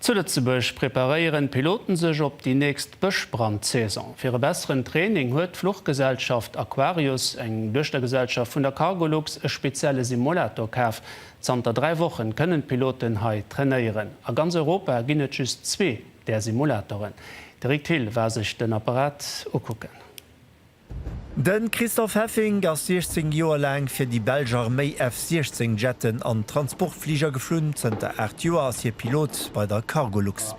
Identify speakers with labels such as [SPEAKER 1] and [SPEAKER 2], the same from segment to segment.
[SPEAKER 1] Zu Lëtzebuerg preparéieren d'Piloten sech op déi nächst Bëschbrandsaison. Fir e besseren Training huet d'Fluchgesellschaft Aquarius, eng Duechtergesellschaft vun der Cargolux, e spezielle Simulator kaf. Zanter dräi Wochen kënnen d'Piloten hei trainéieren. A ganz Europa ginn et just zwee där Simulatoren. De Rick Thill war sech den Apparat ukucken.
[SPEAKER 2] De Christophe Heffink ass 16 Joer laang fir déi belsch Arméi F-16 Jetten an Transportfliger geflunn. Zënter 8 Joer ass hie Pilot bei der Cargolux.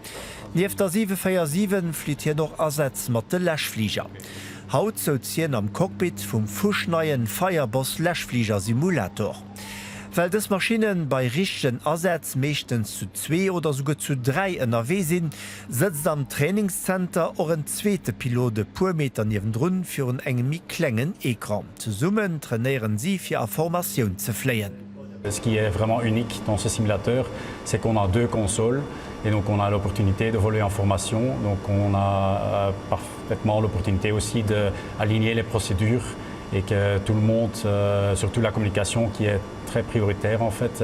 [SPEAKER 2] Nieft der 747 flitt hien och Asätz mat de Läschfliger. Haut souz hien am Cockpit vum fuschneie Fireboss Läschfliger Simulator. Well dës Maschinne bei richtegen Asätz meeschtens zu zwee oder souguer zu dräi ënnerwee sinn, Sëtzt am Trainingszenter och en zweete Pilot e puer Meter niewendrun virun engem méi klengen Ecran. Zesummen trainéieren si fir a Formatioun ze fléien. Ce qui est
[SPEAKER 3] vraiment unique dans ce simulateur, c'est qu'on a deux consoles et donc on a l'opportunité de voler en formation, donc on a parfaitement l'opportunité aussi de aligner les procédures et que tout le monde, surtout la communication qui est très prioritaire en fait,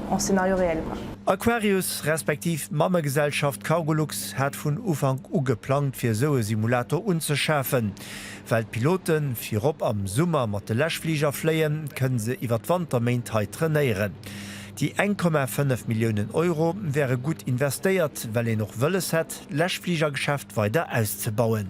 [SPEAKER 4] en scénario réel war. Aquarius
[SPEAKER 2] respektiv d'Mammegesellschaft Cargolux hat vun Ufank u geplangt fir esou e Simulator unzeschafen. Well d'Pilote virop am Summer mat de Läschfliger fléien, kënne se iwwer d'Wanterméint hei trainéieren. Déi 1,5 Milliounen Euro wäre gutt investéiert, well een och wëlles hätt, d'Läschfligergeschäft weider auszebauen.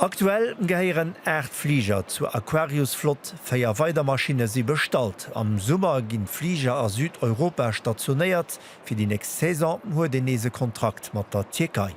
[SPEAKER 5] Aktuell gehéieren
[SPEAKER 2] 8 Fliger zur Aquarius-Flott, 4 weider Maschinne si bestallt. Am Summer ginn d'Fliger a Südeuropa stationéiert, fir déi nächst Saison huet een nees e Kontrakt mat der Tierkei.